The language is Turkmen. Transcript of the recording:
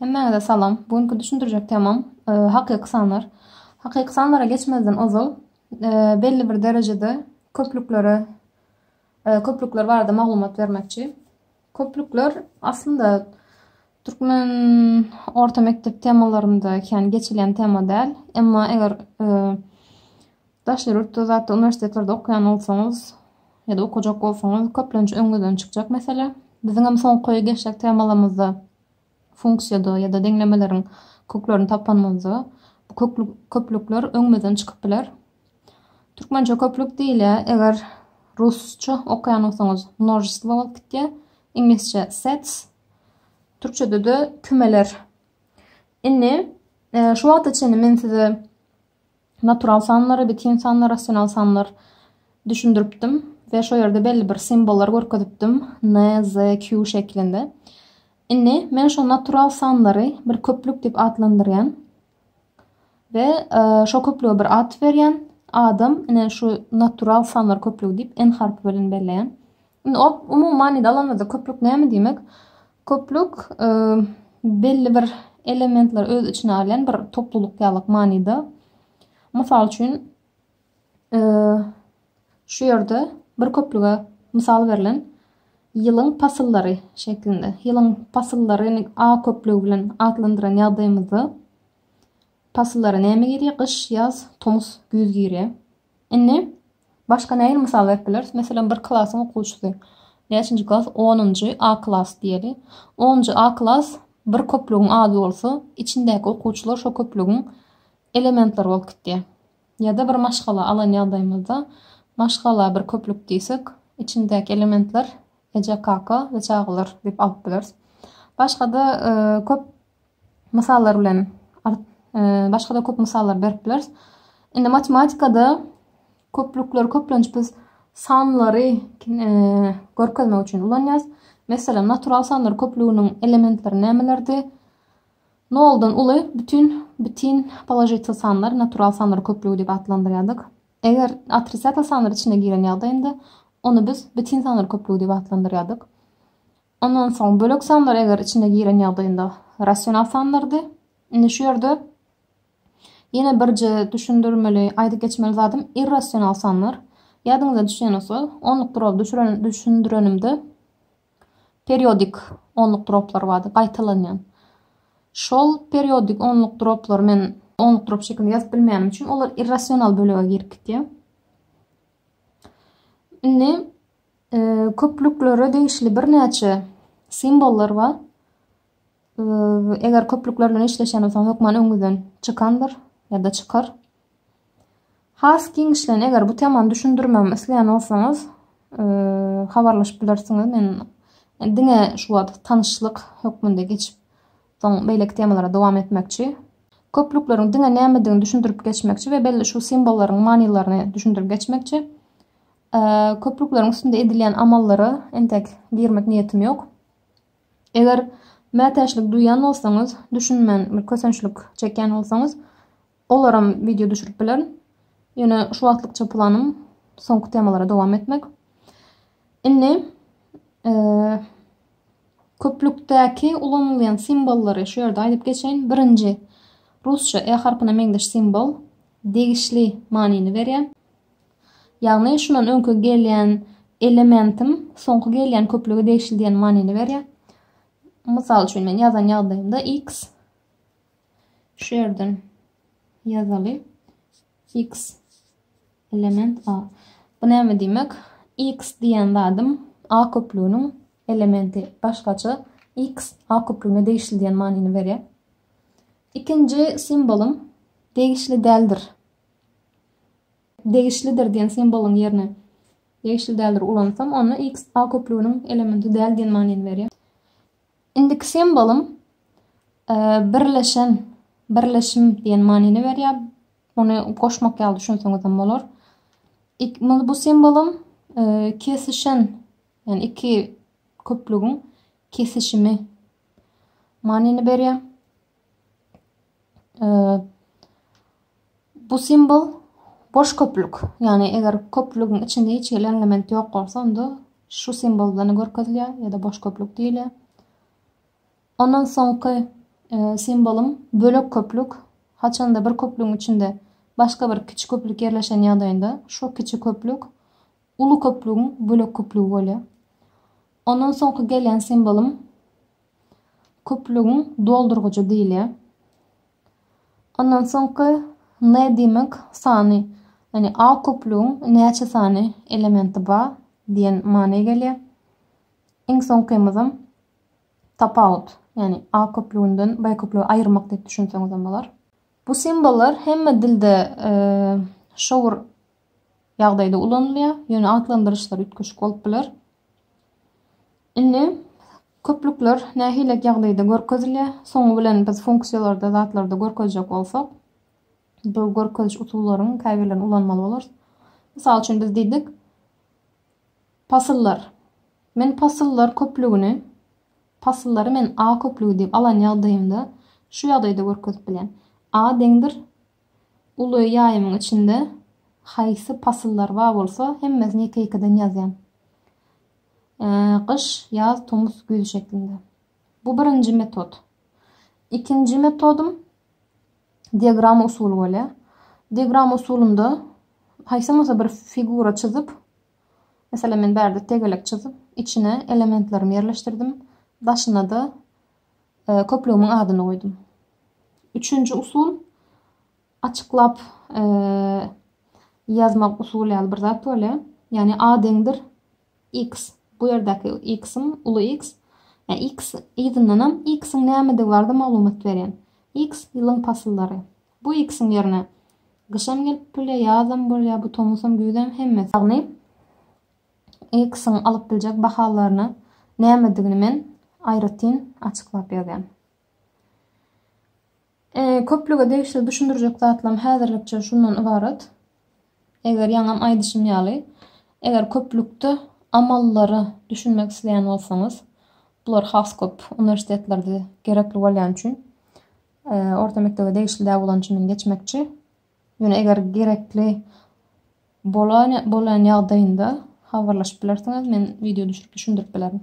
Hemmäňize salam. Bu günki düşündirjek temam hakyky sanlar. Hakyky sanlara geçmezden ozal belli bir derejede köplüklere köplükler barada maglumat bermekçi. Köplükler aslynda türkmen orta mekdep temalarynda kän geçilen tema däl. Emma eger Daşary ýurtda zatda uniwersitetlerde okaýan bolsaňyz ýa-da okajak bolsaňyz köplenç öňüňizden çykjak mesele. Biziňem soňky geçjek temalarymyzda funksiýada ýa-da deňlemeleriň köklerini tapanymyzda bu köklük köplükler öňümizden çykyp biler. Türkmençe köplük diýilýär. Eger rusça okaýan bolsaňyz množestvo bolup gitýär. Iňlisçe sets. Türkçede-de kümeler. Indi e, şu wagta çenli men size natural sanlar, ebityn sanlar, rasional sanlar düşündiripdim we şo ýerde belli bir simbollary görkezipdim, N, Z, Q şeklinde. Indi men şo natural sanlary bir köplük diýip atlandyrýan we e, şo köplüge bir at berýän. Adam ine şu natural sanlar köplügi diýip N harpy bilen belleýän. Indi umuman indi alanymyzda köplük näme diýmek? Köplük, belli bir elementleri öz içine alýan bir toplulyk ýalyk manyda. Mysal üçin, şu ýerde bir köplüge mysal berlen ýylyň pasyllary şeklinde. Ýylyň pasyllaryny A köplügi bilen atlandyran ýagdaýymyzda pasyllara näme girýär? Gyş, ýaz, tomus, güýz girýär. Indi Başga nähili mysal berip bileris? Meselem, bir klasyň okuwçysy. Näçinji klas? Onunjy A klas diýeli. Onunjy A klas bir köplügiň ady bolsa, içindäki okuwçylar şo köplügiň elementleri bolup gidýär. Ýa-da bir maşgala alan ýagdaýymyzda, maşgala bir köplük diýsek, içindäki elementler eje, kaka we çagalar diýip alyp bileris. Başga-da köp Mysallar bilen art başgada köp mysallar berip bileris. Indi matematikada köplükleri köplenç biz sanlary görkezmek üçin ulanýarys. Meselem, natural sanlar köplüginiň elementleri nämelerdi? Noldan uly bütün bütün položitel sanlar natural sanlar köplügi diýip atlandyrýardyk. Eger otrisiatel sanlar içine giren ýagdaýynda ony biz bütün sanlar köplügi diýip atlandyrýardyk. Ondan soň bölek sanlar eger içine giren ýagdaýynda rasional sanlardy. Indi şu ýerde ýene birje düşündirmeli, aýdyp geçmeli zadym irrasional sanlar. Ýadyňyza düşýän bolsa, onluk duraby düşüren düşündirenimde periodik onluk duraplar bardy, gaýtalanýan. Şol periodik onluk duraplary men onluk durap şekilinde ýazyp bilmeýänim üçin olar irrasional bölege girip gitýär. Indi Köplüklere degişli birnäçe simwollar bar. Eger köplükler bilen işleşen bolsaň, hökman öňüňizden çykandyr ýa-da çykar. Has giňişleýin, eger bu temany düşündirmemi isleýän bolsaňyz, habarlaşyp bilersiňiz. Men diňe şu wagt tanyşlyk hökmünde geçip, soň beýleki temalara dowam etmekçi. Köplükleriň diňe nämedigini düşündirip geçmekçi we belli şu simwollaryň manylaryny düşündirip geçmekçi. Köprükleriň üstünde edilýän amallara entek girmek niýetim ýok. Eger mätäçlik duýan bolsaňyz, düşünmän bir kösençlik çekýän bolsaňyz, olaram wideo düşürip bilerin. Ýöne şu wagtlykça planym soňky temalara dowam etmek. Indi e, köplükdäki ulanylýan simwollary şu ýerde aýdyp geçeýin. Birinji rusça e harpyna meňzeş simwol degişli manyny berýär. Ýagny şundan öňki gelýän elementim soňky gelýän köplüge degişli diýen manyny berýär. Mysal üçin men ýazan ýagdaýymda x şu ýerden ýazaly x element a. Bu näme diýmek? x diýen zadym a köplüginiň elementi. Başgaça x a köplügine degişli diýen manyny berýär. Ikinji simbolum degişli däldir degişlidir diýen simbolyň ýerine degişli däldir ulansam, onda x A köplüginiň elementi däl diýen manyny berýär. Indiki simbolym e, birleşen, birleşim diýen manyny berýär. Ony goşmak ýaly düşünseňiz hem bolar. Bu simbolym e, kesişen, ýani iki köplügiň kesişimi manyny berýär. Bu simwol boş köplük. Ýagny eger köplügiň içinde hiç hili element ýok bolsa, onda şu simwol bilen görkezilýär ýa-da boş köplük diýilýär. Ondan soňky e, simwolum bölek köplük. Haçanda bir köplügiň içinde başga bir kiçi köplük ýerleşen ýagdaýynda şu kiçi köplük uly köplügiň bölek köplügi bolýar. Ondan soňky gelen simwolum Köplügiň doldurgyjy diýilýär. Ondan soňky n diýmek sany, ýagny A köplügiň näçe sany elementi bar diýen many gelýär. Iň soňkymyzam tapawut, ýagny A köplüginden B köplügi aýyrmak diýip düşünseňizem bolar. Bu simbollar hemme dilde şowur ýagdaýda ulanylýar, ýöne atlandyryşlar üýtgeşik bolup biler. Indi köplükler nähili ýagdaýda görkezilýär? Soňy bilen biz funksiýalarda, zatlarda görkezjek bolsak, bu görkeziş usullaryň käbirlerini ulanmaly bolarys. Mysal üçin biz diýdik, pasyllar. Men pasyllar köplügini, pasyllary men A köplügi diýip alan ýagdaýymda şu ýagdaýda görkezip bilýän. A deňdir Uly ýaýymyň içinde haýsy pasyllar bar bolsa, hemmesini ýeke-ýekeden ýazýan. Gyş, ýaz, tomus, güýz şeklinde. Bu birinji metod. Ikinji metodym diagram usuly bolýar. Diagram usulynda haýsam bolsa bir figura çyzyp, mesela men bärde tegelek çyzyp, içine elementlerimi ýerleşdirdim, daşyna-da köplügimiň adyny goýdum. Üçünji usul açyklap ýazmak usuly ýaly bir zat bolýar. Ýagny A deňdir X. Bu ýerdäki X-im uly X. Ýa X yzyndan hem X-iň nämedigi barada maglumat berýän. X ýylyň pasyllary. Bu X-iň ýerine gyşam gelip bilýär, ýazam bolýar, bu tomusam, güýzem hemmesi. Ýagny X-iň alyp biljek bahalaryny nämedigini men aýratyn açyklap ýazýan. Köplüge degişli düşündirjek zatlarym häzirlikçe şundan ybarat. Eger ýaňam aýdyşym ýaly, eger köplükde amallary düşünmek isleýän bolsaňyz, bular has köp uniwersitetlerde gerekli bolýan üçin orta mekdebe degişli däl bolan üçin men geçmekçi. Ýöne eger gerekli bolan ýagdaýynda habarlaşyp bilersiňiz, men wideo düşürip düşündirip bilerin.